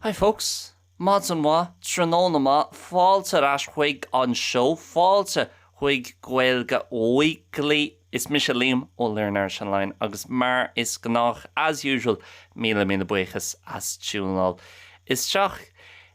Hi folks! Maidin mhaith, tráthnóna maith, fáilte ar ais chuig an seó, fáilte chuig Gaeilge Weekly. Is mise Liam ó Learn Irish Online agus mar is gnách, as usual, míle míle buíochas as tiúineáil isteach.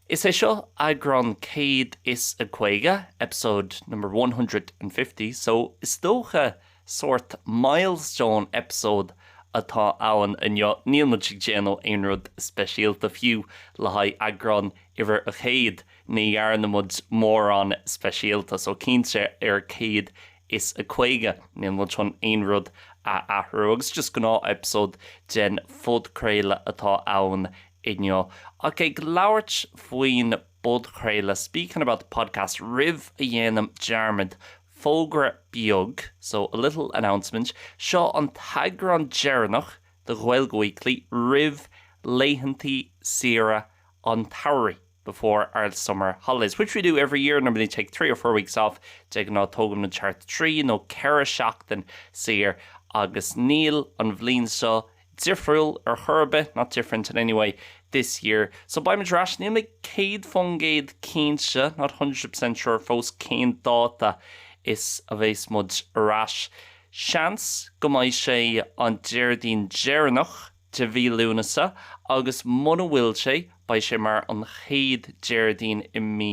Is é seo eagrán 150, episode number one hundred and fifty, so is dócha Sórt milestone episode atá ann inniu, níl muid ag déanamh aon rud speisialta, fiú le haghaidh eagrán uimhir 100 ní dhearna muid mórán speisialta, so cinnte ar 150 níl muid chun aon rud a athrú agus just gnáth episode den phodchraoladh atá ann inniu. Ach ag labhairt faoin bpodchraoladh, speaking about the podcast roimh a dhéanaim dearmad Fógra beag, so, a little announcement, Seo an t-eagrán deireanach de Ghaeilge Weekly roimh laethantaí saoire an tsamhraidh, before our summer holidays, which we do every year, normally take three or four weeks off, de ghnáth tógaim thart trí nó ceithre seachtaine saor agus níl an bhliain seo difriúil ar chor ar bith, not different in any way, this year. So beidh muid ar ais, níl mé céad faoin gcéad cinnte, not a hundred percent sure, fós cén dáta is a bheas muid ar ais. Seans go mbeidh sé an Déardaoin deireanach de mhí Lúnasa agus muna bhfuil sé, beidh sé mar an chéad Déardaoin i mí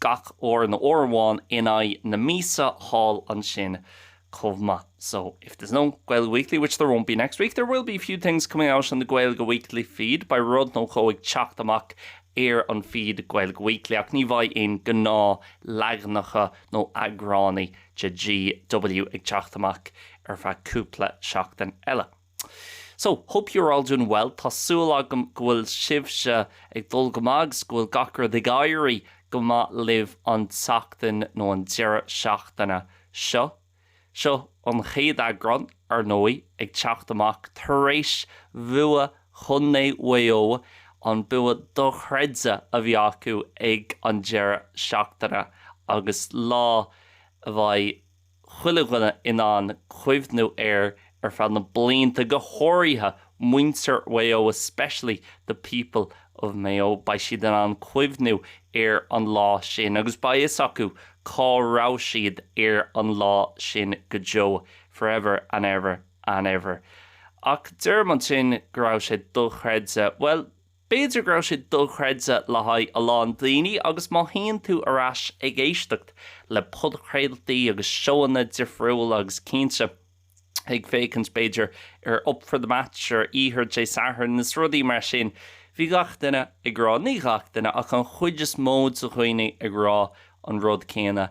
gach uair nó uair amháin in aghaidh na míosa thall ansin chomh maith so if there's no Gaeilge Weekly, which there won't be next week, there will be a few things coming out on the Gaeilge Weekly feed beidh rud nó dhó ag teacht amach ar an feed Gaeilge Weekly ach ní bheidh aon ghnáthleaganacha nó eagránaí de GW ag teacht amach ar feadh cúpla seachtain eile. So, hope you're all doing well. Tá súil agam go bhfuil sibhse ag dul go maith agus go bhfuil gach rud ag éirí go maith libh an tseachtain nó an deireadh seachtaine seo. Seo an chéad eagrán, ar ndóigh, ag teacht amach tar éis bhua Chontae Mhaigh Eo, an bua dochreidte a bhí acu ag an deireadh seachtaine agus lá a bheidh, chuile dhuine in ann cuimhniú air ar feadh na blianta, go háirithe muintir Mhaigh Eo, especially the people of Mayo. Beidh siad in ann cuimhniú ar an lá sin agus beidh fhios acu cá raibh siad ar an lá sin go deo, forever and ever and ever. Ach deirim ansin go raibh sé dochreidte. Bhuel. B'fhéidir go raibh sé dochreidte le haghaidh a lán daoine agus má théann tú ar ais ag éisteacht le podchraoltaí agus seóanna difriúla agus cinnte ag féachaint b'fhéidir ar Up for the Match ar oíche Dé Sathairn is rudaí mar sin, bhí gach duine ag rá, ní gach duine ach an chuid is mó de dhaoine ag rá an rud céanna.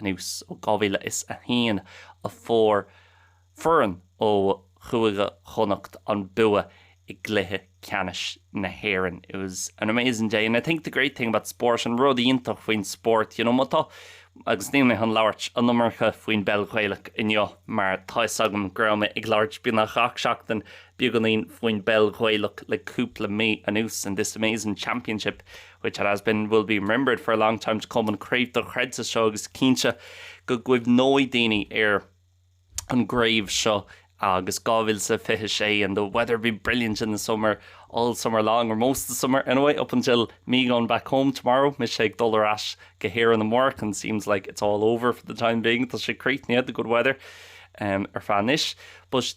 anuas ó 2001 a fuair foireann ó Chúige Chonnacht an bua i gcluiche ceannais na hÉireann. It was an amazing day and I think the great thing about sport, an rud iontach faoin spórt, you know, má tá, agus níl mé chun labhairt an iomarca faoin bpeil Ghaelach inniu mar tá fhios agam go raibh mé ag labhairt beagnach gach seachtain beagnín faoin bpeil Ghaelach le cúpla mí anuas in this amazing championship which it has been, will be remembered for a long time to come an chraobh dochreidte seo agus is cinnte go gcuimhneoidh daoine ar an gcraobh seo agus 2026 and the weather being brilliant in the summer, all summer long or most of the summer anyway, up until me going back home tomorrow, mise ag dul ar ais go hÉirinn amárach and seems like it's all over for the time being tá sé críochnaithe, the good weather, um, ar feadh anois. But.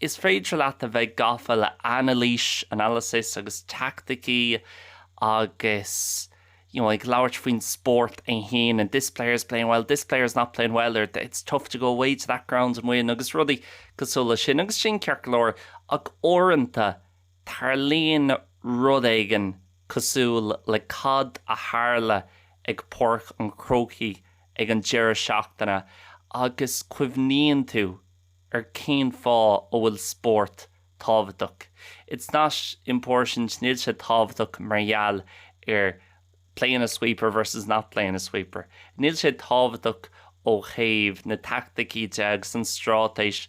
Is féidir leat a bheith gafa le anailís, analysis, agus teaicticí agus you know ag labhairt faoin spórt é fhéin and this player is playing well, this player is not playing well or it's tough to go away to that ground and win agus rudaí cosúil le sin agus sin ceart go leor ach uaireanta tarlaíonn rud éigin cosúil le cad a tharla ag Páirc an Chrócaigh ag an deireadh seachtaine agus cuimhníonn tú ar cén fáth a bhfuil spórt tábhachtach. It's not important, níl sé tábhachtach mar gheall ar playing a sweeper versus not playing a sweeper, níl sé tábhachtach ó thaobh na teaicticí de agus an straitéis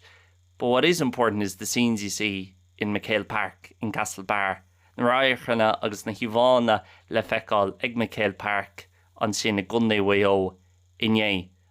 but what is important is the scenes you see in McHale Park, in Castlebar, na radharcanna agus na híomhánna le feiceáil ag McHale Park ansin i gContae Mhaigh Eo inné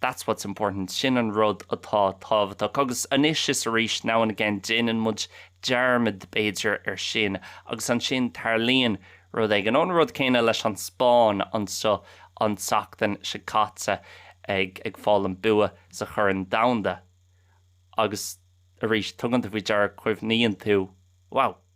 That's what's important, sin an rud atá tábhachtach. Agus anois is arís, now and again, déanann muid dearmad, b'fhéidir, ar sin agus ansin tarlaíonn rud éigin. An rud céanna leis an Spáinn anseo an tseachtain seo caite, ag fáil an bua sa Chorn Domhanda agus arís, tugann tú faoi deara, cuimhníonn tú, wow,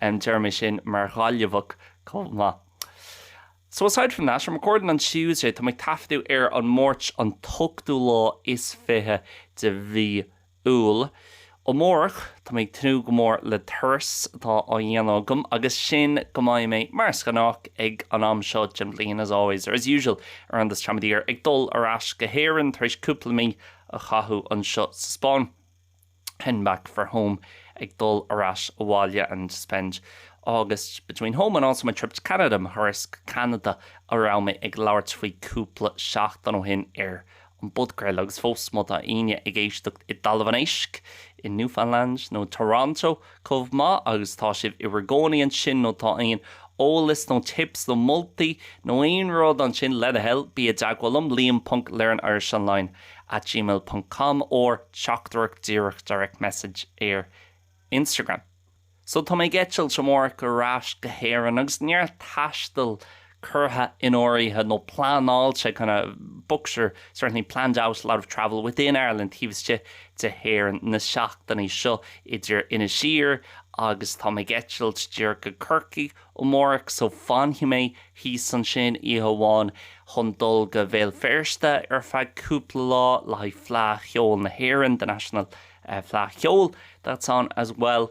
em deirim é sin mar Ghaillimheach chomh maith so aside from that I'm recording on Tuesday tá mé ag taifeadadh ar an Máirt an t-ochtú lá is fiche de mhí Iúil amárach tá mé ag tnúth go mór le turas atá á dhéanamh agam agus sin go mbeidh mé mar is gnách ag an am seo den bhliain as always or as usual around this time of the year ag dul ar ais go hÉirinn tar éis cúpla mí a chaitheamh anseo sa Spáinn. heading back for home ag dul ar ais abhaile and spend August between home and also my trip to Canada mo thuras go Ceanada a raibh mé ag labhairt faoi cúpla seachtain ó shin ar an bpodcraol agus fós má tá aoinne ag éisteacht i dTalamh an Éisc i Newfoundland nó Toronto chomh maith agus tá sibh i bhur gcónaí ansin nó tá aon eolas nó tips nó moltaí nó aon rud ansin, le do thoil, bí i dteagmháil liom, liam.learnirishonline at gmail ponc com or teachtaireacht díreach, direct message, ar Instagram. So tá mé ag eitilt amárach ar ais go hÉirinn agus neart taistil curtha in áirithe nó pleanáilte kind of booked or certainly planned out a lot of travel within Ireland taobh istigh de hÉireann na seachtainí seo idir Inis Oírr agus tá mé ag eitilt díreach go Corcaigh amárach so fanfaidh mé thíos ansin oíche amháin chun dul go Béal Feirste ar feadh cúpla lá le haghaidh Fleadh Cheoil na hÉireann the National eh, Fleadh Cheoil that's on as well.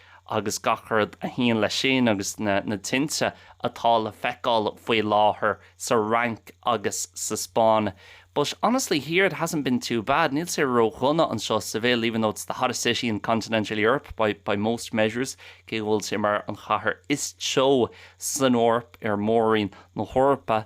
agus gach rud a théann leis sin agus na tinte atá le feiceáil faoi láthair sa Fhrainc agus sa Spáinn but honestly here it hasn't been too bad, níl sé ródhona anseo Seville even though it's the hottest city in continental Europe by most measures cé go bhfuil sé mar an chathair is teo san Eoraip ar mhórroinn na hEorpa.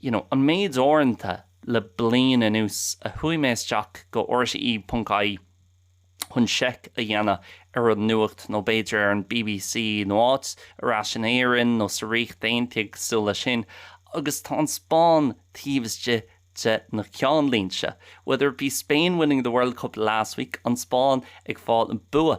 you know an méid uaireanta le bliain anuas a chuaigh mé isteach go rte ponc ie chun seiceáil a dhéanamh ar an nuacht nó b'fhéidir ar an bbc nó áit ar ais in Éirinn nó sa Ríocht Aontaithe cosúil leis sin agus tá an Spáinn taobh istigh de na ceannlínte whether it be Spain winning the World Cup last week an Spáinn ag fáil an bua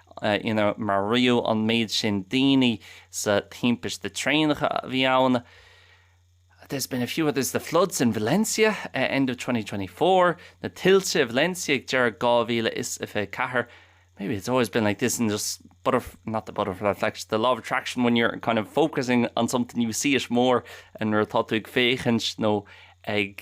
inar maraíodh an méid sin daoine sa timpiste traenacha a bhí ann there's been a few others the floods in Valencia uh end of twenty twenty four na tuilte i Valencia ag deireadh 2024 maybe it's always been like this and just butter not the butterfly effect the law of attraction when you're kind of focusing on something you see it more and nuair atá tú ag féachaint nó ag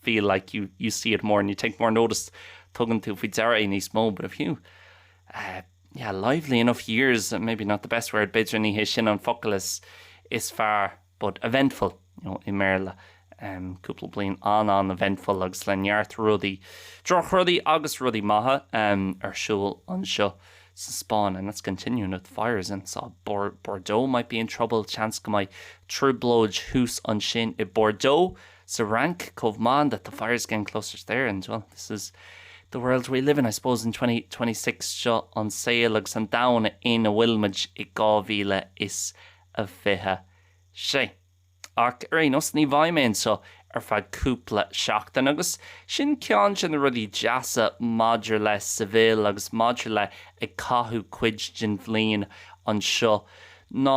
feel like you you see it more and you take more notice tugann tú faoi deara é níos mó but if you eh yeah lively enough years maybe not the best word b'fhéidir ní hé sin an focal is is fearr but eventful you know i mBéarla em cúpla bliain an-an-eventful agus le neart rudaí drochrudaí agus rudaí maithe em ar siúl anseo sa Spáinn and that's continuing with fires and so Bordeaux might be in trouble seans go mbeidh trioblóid thuas ansin i Bordeaux sa Fhrainc chomh maith and that the fire's getting closer there and well this is the world we live in I suppose in twenty twenty six seo an saol agus an domhan ina bhfuil muid i 2026 ach ar aon nós ní bheidh mé anseo ar feadh cúpla seachtain agus sin ceann de na rudaí deasa maidir le Seville agus maidir le ag caitheamh cuid den bhliain anseo ná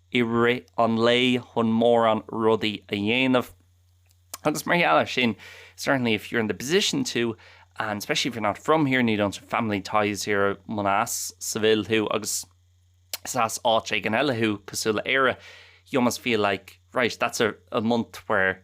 i rith an lae chun mórán rudaí a dhéanamh agus mar gheall air sin certainly if you're in the position to and especially if you're not from here and you don't have family ties here munar as Seville thú agus más as áit éigin eile thú cosúil le Éire you almost feel like right that's a, a month where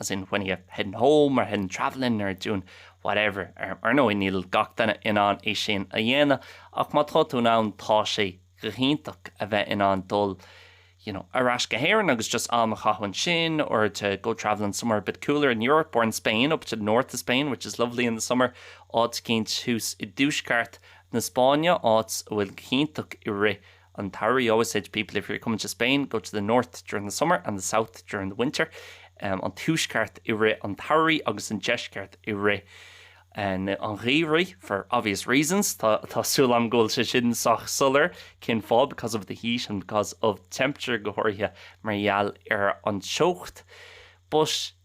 as in when are you heading home or heading travelling or doing whatever ar ndóigh níl gach duine in ann é sin a dhéanamh ach má tá tú in ann tá sé go hiontach a bheith in ann dul you know ar ais go hÉirinn agus just am a chaitheamh ansin or to go travelling somewhere a bit cooler in Europe or in Spain up to the north of Spain which is lovely in the summer áit éigint thuas i dtuaisceart na Spáinne áit a bhfuil go hiontach i rith an tsamhraidh, always say to people if you're coming to Spain, go to the north during the summer and the south during the winter, an tuaisceart i rith an tsamhraidh agus an deisceart i rith an gheimhridh, for obvious reasons, tá súil agam go bhfuil sé sin sách soiléir cén fáth, because of the heat and because of the temperature, go háirithe mar gheall ar an teocht. But.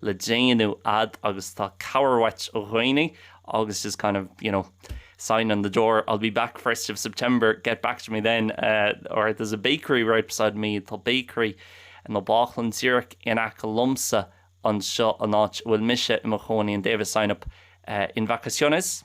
le déanamh agat agus cabhair uait ó dhaoine agus just kind of, you know, sign on the door, I'll be back first of September, get back to me then, or there's a bakery right beside me, tá bakery nó bácúslann díreach in aice liomsa anseo an áit a bhfuil mise i mo chónaí and they've a sign up en vacaciones.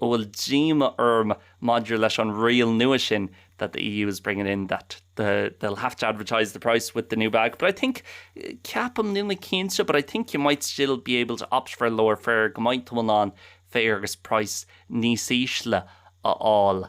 A bhfuil díomá orm maidir leis an riail nua sin that the EU is bringing in that the they'll have to advertise the price with the new bag but I think ceapaim, níl mé cinnte, but I think you might still be able to opt for a lower fare go mbeidh tú in ann fare agus price níos ísle a fháil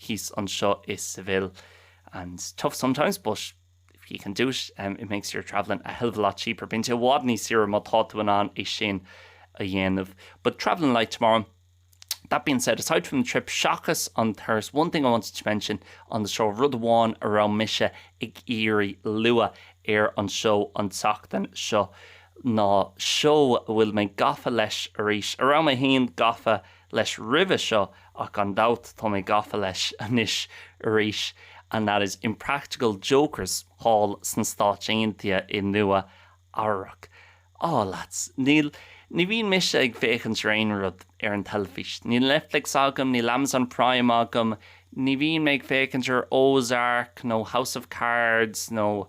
thíos anseo i Seville is tough sometimes but if you can do it it makes your travelling a hell of a lot cheaper bíonn sé i bhfad níos saoire má tá tú in ann é sin a dhéanamh but travelling light tomorrow that being said aside from the trip seachas an turas one thing I wanted to mention on the show rud amháin a raibh mise ag iarraidh lua ar an seó an tseachtain seo ná seó a bhfuil mé gafa leis arís a raibh mé cheana gafa leis roimhe seo ach gan dabht tá mé gafa leis anois arís and that is Impractical Jokers thall sna Stáit Aontaithe i Nua Eabhrac. Á, lads, ní, ní bhíonn mise ag féachaint ar aon rud ar an teilifís. Níl Netflix agam, níl Amazon Prime agam, ní bhíonn mé ag féachaint ar Ozark nó House of Cards nó.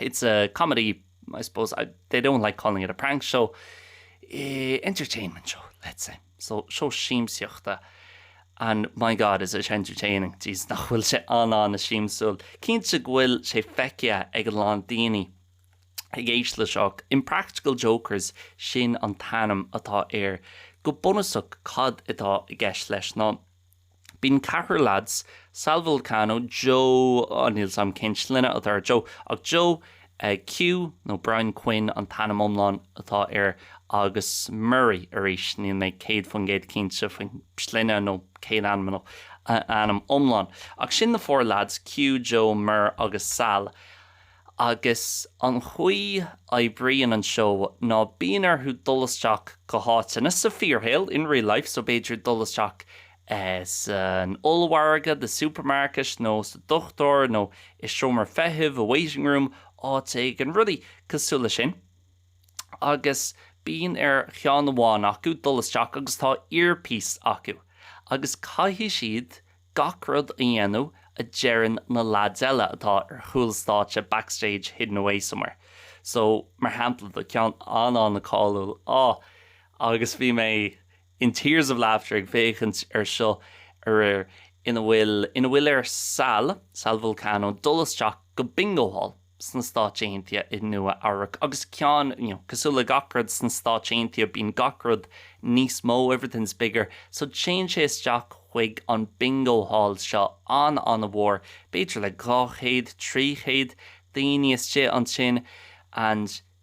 It's a comedy, I suppose, I, they don't like calling it a prank show, eh, entertainment show, let's say. So, seó siamsaíochta and my God is it entertaining, jeez nach bhfuil sé an-an-siamsúil. Cinnte go bhfuil sé feicthe ag a lán daoine ag éisteacht leis seo ach Impractical Jokers sin an t-ainm atá air. Go bunúsach cad atá i gceist leis ná Bíonn ceathrar leads, Sal Vulcano, Joe, oh níl 's am cén sloinne atá ar Joe ach Joe Q nó Brian Quinn an t-ainm iomlán atá air agus Murray, arís níl mé 100% cinnte faoin sloinne nó céad ainm nó ainm iomlán ach sin na four leaids, Q, Joe, Mur agus Sal. Agus an chaoi a oibríonn an seó ná bíonn orthu dul isteach go háiteanna, sa fíorshaol, in real life, so b'fhéidir dul isteach san ollmhargadh, the supermarket, nó sa dochtúir nó i seomra feithimh, a waiting room, áit éigin, rudaí cosúil leis sin. Agus bíonn ar cheann amháin acu dul isteach agus tá earpiece acu agus caithfidh siad Gach rud a dhéanamh a deireann na lads eile atá ar chúl stáitse, backstage, hidden away somewhere. So, mar shampla, tá ceann an-an-cáiliúil, oh, agus bhí mé in tears of laughter ag féachaint ar seo aréir, ina bhfuil, ina bhfuil ar Sal, Sal Vulcano, dul isteach go Bingo Hall. sna Stáit Aontaithe i Nua Eabhrac agus ceann cosúil le gach rud sna Stáit Aontaithe bíonn gach rud níos mó everything's bigger so téann sé isteach chuig an bingo hall seo an-an-mhór b'fhéidir le dhá chéad trí chéad daoine istigh ansin and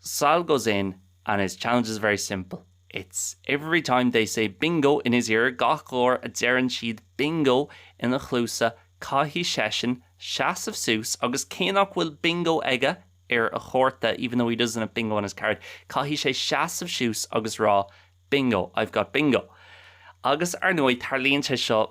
Sal goes in and his challenge is very simple, it's every time they say Bingo in his ear, gach uair a deireann siad Bingo ina chluasa caithfidh seisean seasamh suas agus cé nach bhfuil Bingo aige ar a chárta even though he doesn't have Bingo on his card caithfidh sé seasamh suas agus rá Bingo, I've got Bingo. Agus ar ndóigh tarlaíonn sé seo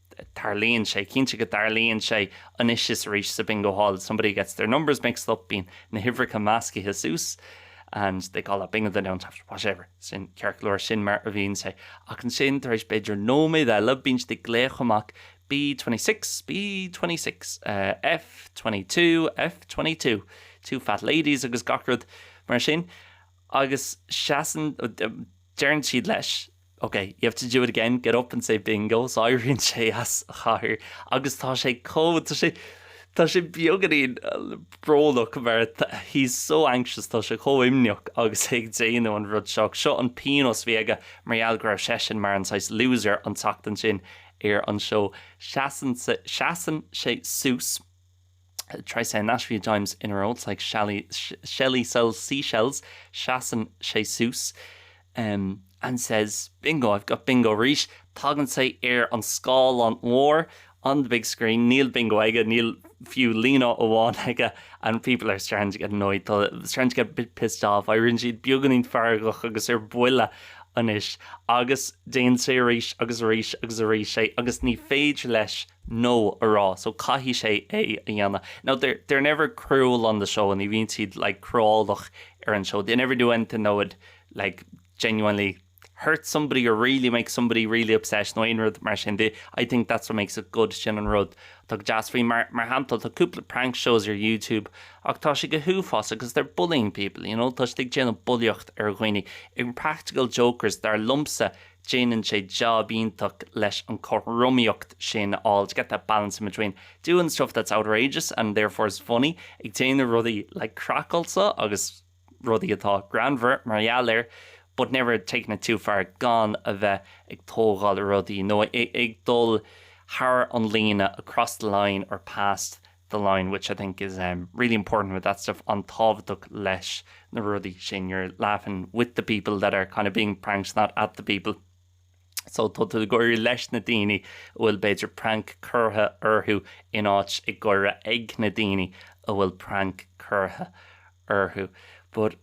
tarlaíonn sé, cinnte go dtarlaíonn sé anois is arís sa Bingo Hall, somebody gets their numbers mixed up, bíonn na huimhreacha meascaithe suas and they call that bingo, they don't have to, whatever, sin ceart go leor, sin mar a bhíonn sé. Ach ansin tar éis b'fhéidir nóiméad eile bíonn siad ag glaoch amach B26, B26, eh, F22, F22, two fat ladies agus gach rud mar sin agus seasann, deireann siad leis, OK, you have to do it again, get up and say bingo so éiríonn sé as a chathaoir agus tá sé chomh, tá sé, tá sé beagáinín brónach mar he's so anxious, tá sé chomh imníoch agus é ag déanamh an rud seo. Seo an pionós a bhí aige mar gheall go raibh seisean mar an saghas loser an tseachtain sin ar an seó. Seasann sé suas. Try saying that a few times in a row, it's like shally, Shelly sells seashells, seasann sé suas em and says bingo, I've got bingo arís, tagann sé ar an scáileán mór on the big screen, níl bingo aige, níl fiú líne amháin aige and people are starting to get annoyed, tá siad starting to get a bit pissed off, éiríonn siad beagáinín feargach agus ar buile anois agus déanann sé arís agus arís agus arís é agus ní féidir leis no a rá so caithfidh sé é a dhéanamh no they're they're never cruel on the show ní bhíonn siad like cruálach ar an seó they never do anything that would like genuinely hurt somebody or really make somebody really upset nó aon rud mar sin they I think that's what makes it good sin an rud atá go deas faoi mar mar shampla tá cúpla prank shows ar YouTube ach tá sé go huafásach because they're bullying people you know tá siad ag déanamh bulaíocht ar dhaoine impractical jokers dar liomsa déanann sé jab iontach leis an chothromaíocht sin a fháil, to get that balance in between doing the stuff that's outrageous and therefore is funny, ag déanamh rudaí like craiceáilte agus rudaí atá greannmhar mar gheall air, but never taking it too far, gan a bheith ag tógáil rudaí nó ag dul thar an líne, across the line or past the. the line which I think is really important with that stuff an-tábhachtach leis na rudaí sin you're laughing with the people that are kind of being pranked not at the people so tá tú ag gáire leis na daoine a bhfuil b'fhéidir prank curtha orthu in áit ag gáire ag na daoine a bhfuil prank curtha orthu but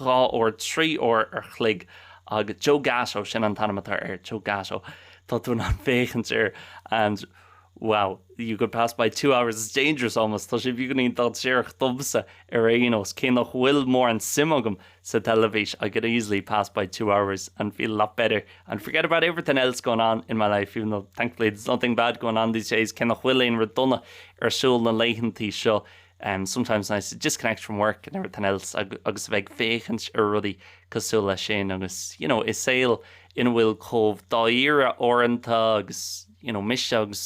dhá uair, trí uair an chloig agus Joe Gatto, sin an t-ainm atá air, Joe Gatto, tá tú in ann féachaint air and wow, you could pass by two hours, it's dangerous almost, tá sé beagáinín dainséarach domsa ar aon nós, cé nach bhfuil mórán suim agam sa teilifís, I could easily pass by two hours and feel a lot better and forget about everything else going on in my life, even though thankfully there's nothing bad going on these days, cé nach bhfuil aon rud dona ar siúl na laethantaí seo. sometimes nice to disconnect from work and everything else agus a bheith ag féachaint ar rudaí cosúil leis sin agus you know i saol ina bhfuil chomh dáiríre uaireanta agus you know mise agus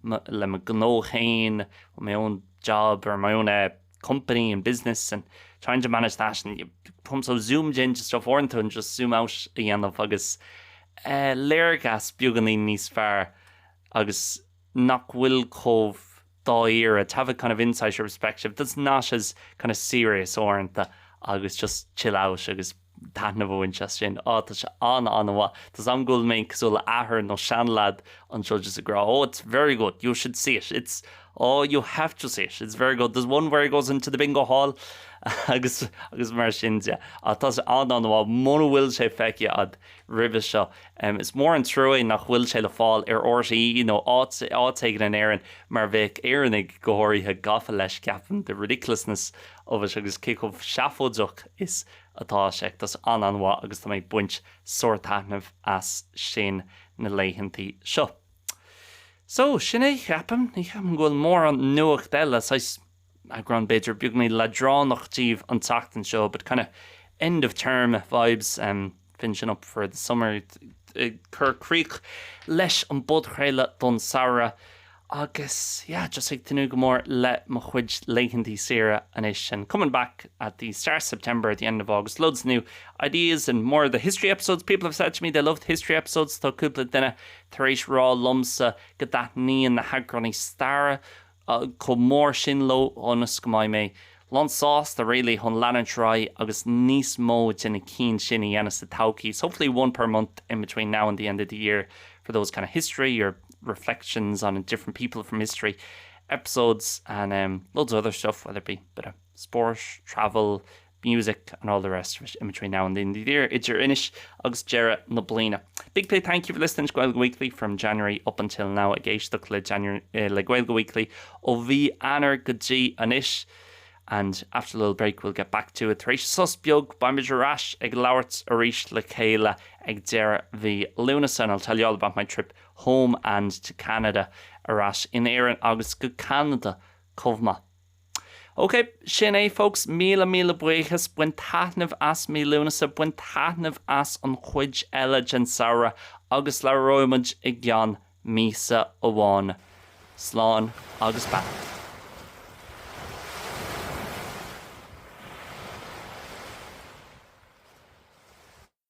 le mo gnó féin with my own job or my own eh company and business and trying to manage that and you come so zoomed in to stuff uaireanta tá sé go deas just zoom out a dhéanamh agus eh léargas beagáinín níos fearr agus nach bhfuil chomh dáiríre, to have a kind of insight or perspective that's not as kind of serious uaireanta agus just chill out agus taitneamh a bhaint as sin. Á, tá sé an-an-mhaith. Does that mean go bhfuil mé cosúil le athair nó seanleaid anseo just ag rá, oh, it's very good, you should see it, it's, oh, you have to see it, it's very good, there's one where he goes into the bingo hall agus, agus mar sin de. Á, tá sé an-an-mhaith. Muna bhfuil sé feicthe agat, roimhe seo. Is mór an trua é nach bhfuil sé le fáil ar RTÉ nó áit éigin in Éirinn mar bheadh Éireannaigh, go háirithe, gafa leis, ceapaim, the ridiculousness of it agus cé chomh seafóideach is atá sé. Tá sé an-an-mhaith agus tá mé ag baint sárthaitnimh as sin na laethanta seo. So, sin é, ceapaim. Ní cheapaim go bhfuil mórán nuacht eile, so 's eagrán b'fhéidir beagáinín leadránach díobh an tseachtain seo but kind of end of term vibes em finishing up for the summer ag cur críoch leis an bpodchraoladh don samhradh agus yeah just ag tnúth go mór le mo chuid laethantaí saoire anois and coming back at the start of September at the end of August loads of new ideas and more of the history episodes people have said to me they love the history episodes tá cúpla duine tar éis rá liomsa go dtaitníonn na heagráin staire chomh mór sin leo so honestly beidh mé lánsásta really chun leanúint ar aghaidh agus níos mó de na cinn sin a dhéanamh sa todhchaí so hopefully one per month in between now and the end of the year for those kind of history or reflections on different people from history episodes and um loads of other stuff whether it be bit of sport, travel, music and all the rest of it in between now and the end of the year idir anois agus deireadh na bliana. Big big thank you for listening to Gaeilge Weekly from January up until now ag éisteacht le January le Gaeilge Weekly ó mhí Eanáir go dtí anois and after a little break we'll get back to it tar éis sos beag beimid ar ais ag labhairt arís le chéile ag deireadh mhí Lúnasa and I'll tell you all about my trip home and to Canada ar ais in Éirinn agus go Ceanada chomh maith. OK, sin é folks, míle míle buíochas, bain taitneamh as mí Lúnasa, bain taitneamh as an chuid eile den samhradh agus labhróidh muid i gceann míosa amháin. Slán agus beannacht.